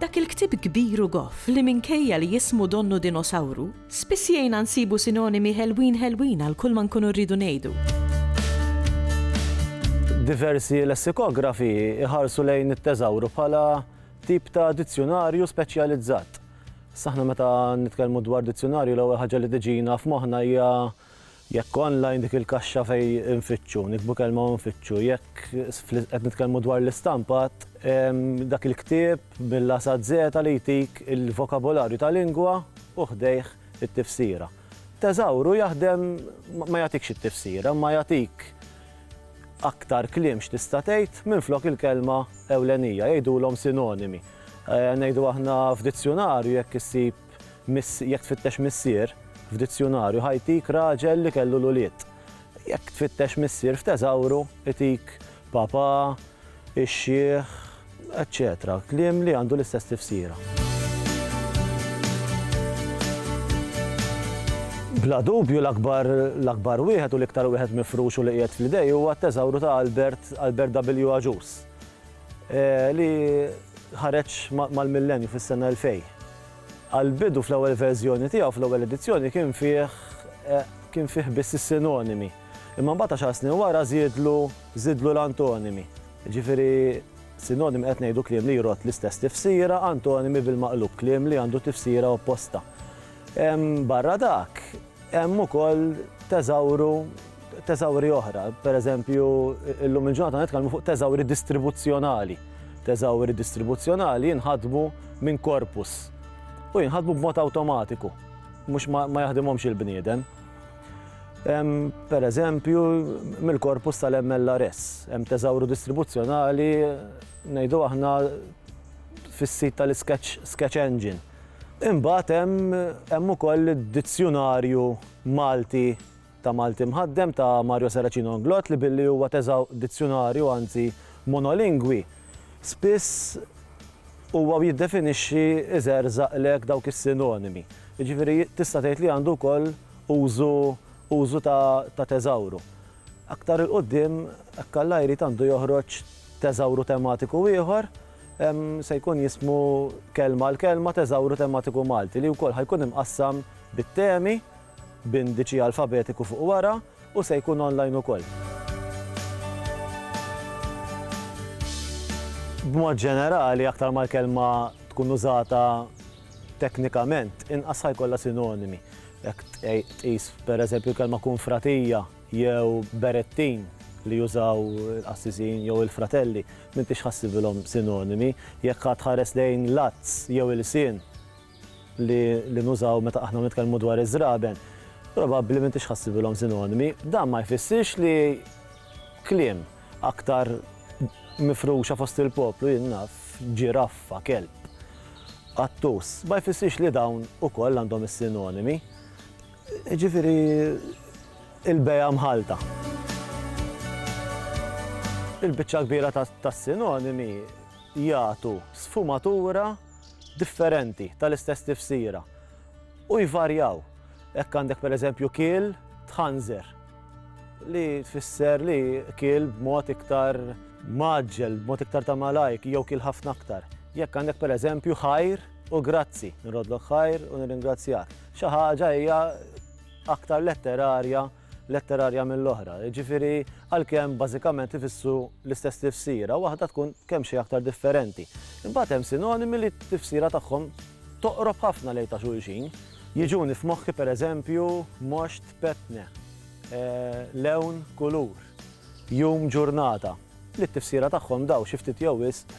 Dak il-ktieb kbir u goff li minkejja li jismu donnu dinosawru, spiss jgħinna nsibu sinonimi ħelwin ħelwin għal kulma nkunu rridu ngħidu. Diversi lessikografi jħarsu lejn it-teżawru bħala tip ta' dizzjunarju speċjalizzat. Saħna meta nitkellmu dwar dizzjunarju l-ewwel ħaġa li tiġina f'moħħna hija Jekk online dik il-kaxxa fejn infittxu, niktbu kelma u nfittxu. Jekk qed nitkellmu dwar l-istampat, hemm dak il-ktieb mill-A sa Z li jtik il-vokabolarju ta' lingwa u ħdejh it-tifsira. Thesauru jaħdem ma jagħtikx it-tifsira imma jagħtik aktar kliem x'tista' tgħid minflok il-kelma ewlenija, jgħidulhom sinonimi. Ngħidu aħna f'dizzjunarju jekk issib Miss, jekk tfittex missier f'dizzjunarju ħa jtik raġel li kellu l-ulied. Jekk tfittex missier f'teżawru itik papà, ix-xiħ, eċċetera kliem li għandu l-istess tifsira. Bla dubju l-akbar l-akbar wieħed u l-iktar wieħed mifrux u li qiegħed fl-idej huwa t-teżawru ta' Albert, Albert W. Agius. li ħareġ mal-Millenju fis-sena 2000. Għall-bidu fl-ewwel verżjoni tiegħu, fl-ewwel edizzjoni, kien fih kien fih biss is-sinonimi. Imma mbagħad għaxar snin wara żiedlu żidlu l-antonimi. Jiġifieri sinonimi qed ngħidu kliem li jrodd l-istess tifsira, antonimi bil-maqlub kliem li għandu tifsira opposta. Barra dak, Hemm ukoll teżawru teżawri oħra, pereżempju illum il-ġurnata nitkellmu fuq teżawri distribuzzjonali. Teżawri distribuzzjonali jinħadmu minn korpus u jinħadmu b'mod awtomatiku, mhux ma, ma jaħdimhomx il-bniedem. Pereżempju, mill-korpus tal-MLRS, hemm teżawru distribuzzjonali ngħidu aħna fis-sit tal-Sketch Sketch Engine. Imbagħad hemm hemm ukoll id-Dizzjunarju Malti ta' Malti Mħaddem ta' Mario Saracino Inglott li billi huwa teżaw dizzjunarju anzi monolingwi, spiss huwa u jiddefinixxi iżerżaqlek dawk is-sinonimi. Jiġifieri tista' tgħid li għandu wkoll użu użu ta' ta' teżawru. Aktar 'il quddiem hekk Alla jrid għandu joħroġ teżawru tematiku ieħor se jkun jismu Kelma għal Kelma, Teżawru Tematiku Malti, li wkoll ħa jkun imqassam bit-temi, b'indiċi alfabetiku fuq wara, u se jkun online ukoll. B'mod ġenerali, aktar ma l-kelma tkun użata teknikament, inqas ħa jkollha sinonimi. Jekk tqis, pereżempju, l-kelma kunfratija, jew berettin li jużaw il-qassisin jew il-fratelli, m'intix ħassibilhom sinonimi. Jekk għad tħares lejn l-għadz jew ilsien li li nużaw meta aħna nitkellmu dwar iż-żraben, probabbli m'intix ħassibilhom sinonimi. Dan ma jfissirx li kliem aktar mifruxa fost il-poplu, jien naf, ġiraffa, kelb, qattus, ma jfissirx li dawn ukoll għandhom is-sinonimi. Jiġifieri l-bejgħa mħallta. Il-biċċa l-kbira tas-sinonimi jagħtu sfumatura differenti tal-istess tifsira u jvarjaw. Hekk għandek pereżempju kiel tħanżer li tfisser li kiel b'mod iktar mgħaġġel, b'mod iktar ta' malajr jew kiel ħafna aktar. Jekk għandek pereżempju ħajr u grazzi, nrodlok ħajr u nirringrazzjak. Xi ħaġa hija aktar letterarja letterarja mill-oħra. Ġifiri, għalkemm bażikament ifissu l-istess tifsira, waħda tkun kemm xi aktar differenti. Imbagħad hemm sinonimi li t-tifsira tagħhom toqrob ħafna lejn ta' xulxin. Jiġuni f'moħħi pereżempju moxt petne, eh, lewn kulur, jum ġurnata, li t-tifsira tagħhom daw xi ftit jew wisq